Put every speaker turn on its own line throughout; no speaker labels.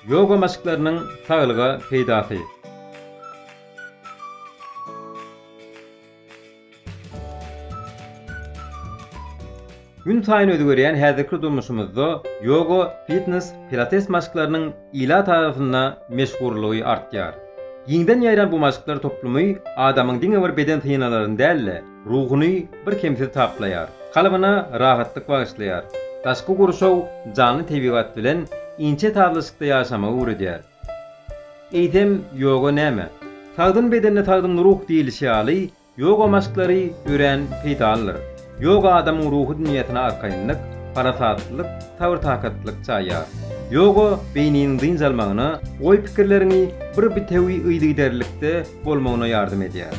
Ýoga maşklarynyň saglyga peýdasy. Günsaýyn özgerýän häzirki durmuşymyzda ýoga, fitnes, pilates maşklarynyň ilat arasynda meşhurlygy artýar. Giňden ýaýran bu maşklar toplumy adamyň diňe bir beden synalaryny däl-de, Ruhuny birkemsiz taplaýar. Kalbyna rahatlyk bagyşlaýar. Daşky gurşaw janly tebigat bilen inçe sazlaşykda ýaşamagy öwredýär. Eýsem, ýoga näme? Sagdyn bedende sagdyn ruh diýlişi ýaly, ýoga maşklary örän peýdalydyr. Ýoga adamyň ruhy dünýäsine arkaýynlyk, parasatlylyk, sabyr-takatlylyk çaýýar. Ýoga beýniniň dynç almagyna, oý-pikirleriňi bir bitewi yzygiderlilikde bolmagyna ýardam edýär.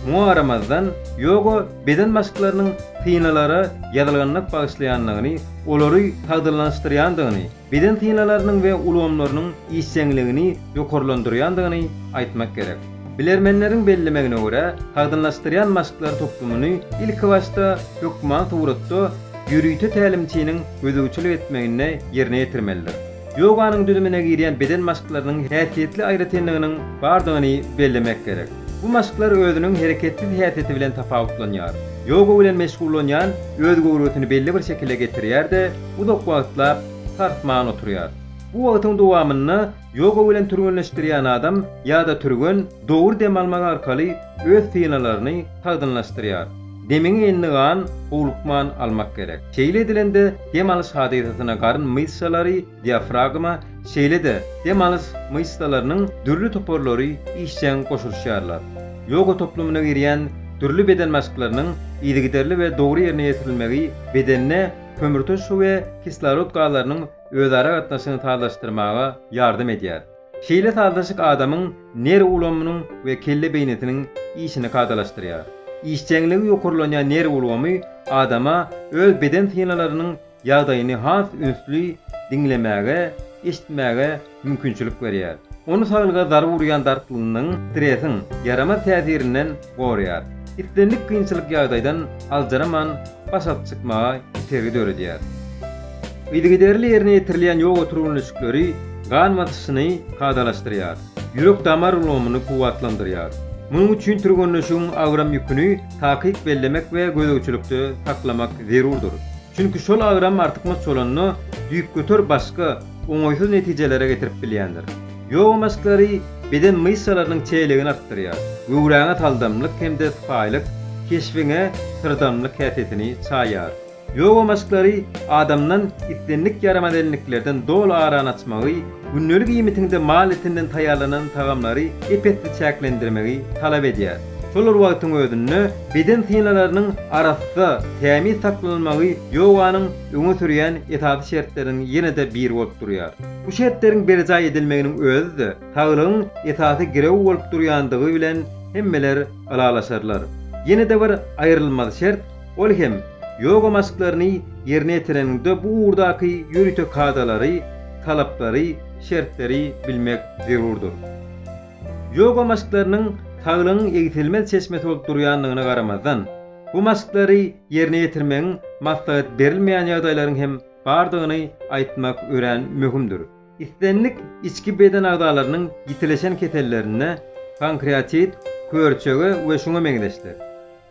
Muňa garamazdan, ýoga beden maşklarynyň synalara ýadalganmak bagyşlaýandygyny, olary sagdynlaşdyrýandygyny, beden synalarynyň we ulgamlarynyň işjeňligini ýokarlandyrýandygyny aýtmak gerek. Bilermenleriň bellemegine görä, sagdynlaşdyrýan maşklar toplumyny ilkibaşda hökman suratda ýörite tälimçiniň gözegçilik etmeginde ýerine ýetirmelidir. Ýoganyň düzümine girýän beden maşklarynyň häsiýetli aýratynlygynyň bardygyny bellemek gerek. Bu maşklar özüniň hereketsiz häsiýeti bilen tapawutlanýar. Ýoga bilen meşgullanýan öz göwresini belli bir şekile getirýär-de, uzak wagtlap sarsman oturýar. Bu wagtyň dowamynda ýoga bilen türgenleşdirýän adam ýa-da türgen dogry dem almak arkaly öz synalaryny sagdynlaşdyrýar. Demiňi indi gan howlukman almak gerek. Şeýle edilende dem alyş hadysasyna garyn myşsalary, diafragma, şeýle-de dem alyş myşsalarynyň dürli toparlary işjeň goşulyşýarlar. Ýoga toplumyna girýän dürli beden maşklarynyň yzygiderli we dogry ýerine ýetirilmegi bedende kömürturşy we kislorod gazlarynyň özara gatnaşygyny sazlaşdyrmaga ýardam edýär. Şeýle sazlaşyk adamyň nerw ulgamynyň we kelle beýnisiniň işini kadalaşdyrýar. Işjeňligi ýokarlanýan nerw ulgamy adama öz beden synalarynyň ýagdaýyny has ünsli diňlemäge, eşitmäge mümkinçilik berýär. Ony saglyga zarba urýan dartgynlygyň, stresiň, ýaramaz täsirinden goraýar, islendik kynçylyk ýagdaýdan aljyraman baş alyp çykmaga itergi döredýär. Yzygiderli ýerine ýetirilýän ýoga türgenleşikleri gan basyşyny kadalaşdyrýar, ýürek-damar ulgamyny kuwwatlandyrýar. Munuň üçin türgenleşigiň agram ýüküni takyk bellemek we gözegçilikde saklamak zerurdyr. Çünki şol agram artykmaç bolanda, düýpgöter başga, oňaýsyz netijelere getirip bilýändir. Ýoga maşklary beden myşsalarynyň çeýeligini artdyrýar, göwräňe saldamlyk hem-de sypaýylyk, keşbiňe syrdamlyk häsiýetini çaýýar. Ýoga maşklary adamdan islendik ýaramaz elniklerden doly arany açmagy, gündelik iýmitiňde mal etinden taýýarlanan tagamlary ep-esli çäklendirmegi talap edýär. Şol bir wagtyň özünde, beden synalarynyň arassa, tämiz saklanylmagy ýoganyň öňe sürýän esasy şertleriniň ýene-de biri bolup durýar. Bu şertleriň berjaý edilmeginiň özi-de saglygyň esasy girewi bolup durýandygy bilen hemmeler ylalaşarlar. Ýene-de bir aýrylmaz şert, ol hem, ýoga maşklaryny ýerine ýetireniňde bu ugurdaky ýörite kadalary, talaplary, şertleri bilmek zerurdyr. Ýoga maşklarynyň saglygyň egsilmez çeşmesi bolup durýandygyna garamazdan, bu maşklary ýerine ýetirmegiň maslahat berilmeýän ýagdaýlaryň hem bardygyny aýtmak örän möhümdir. Islendik içki beden agzalarynyň ýitileşen kesellerinde, pankreatit, körçege we şuňa meňzeşler,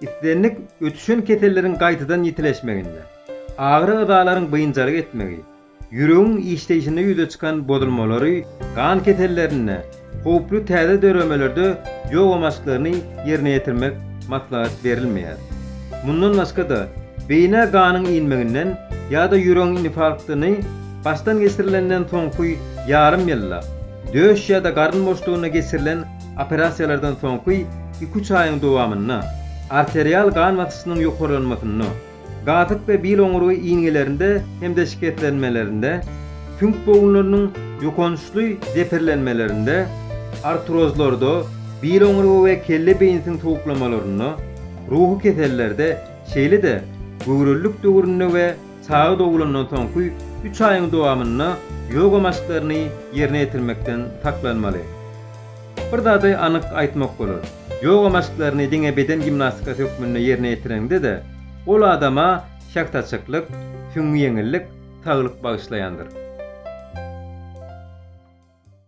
islendik ötüşen keselleriň gaýtadan ýitileşmeginde, agyry yzalaryň biynjalyk etmegi, Ýüregiň işleýşinde ýüze çykan bozulmalary gan kesellerinde, howply täze döremelerde ýoga maşklaryny ýerine ýetirmek maslahat berilmeýär. Mundan başga-da, beýnä ganyň inmeginden ýa-da ýüregiň infarktyny başdan geçirilenden soňky ýarym ýylda, döş ýa-da garyn boşlugynda geçirilen operasiýalardan soňky iki-üç aýyň dowamynda, arterial gan basyşynyň ýokarlanmasynda, Gazyk we bil oňurgy iýngelerinde hem-de şikeslenmelerinde, süňk bogunlarynyň ýokançly zeperlenmelerinde, artrozlarda, bil oňurgy we kelle beýnisiň sowuklamalarynda, ruhy kesellerde, şeýle-de göwrelilik döwründe we çaga dogulandan soňky üç aýyň dowamynda ýoga maşklaryny ýerine ýetirmekden saklanmaly. Bir zady anyk aýtmak bolar, ýoga maşklaryny diňe beden gimnastikasy hökmünde ýerine ýetireňde-de, ol adama şahtaçyklyk, süňňi ýeňillik, saglyk bagyşlaýandyr.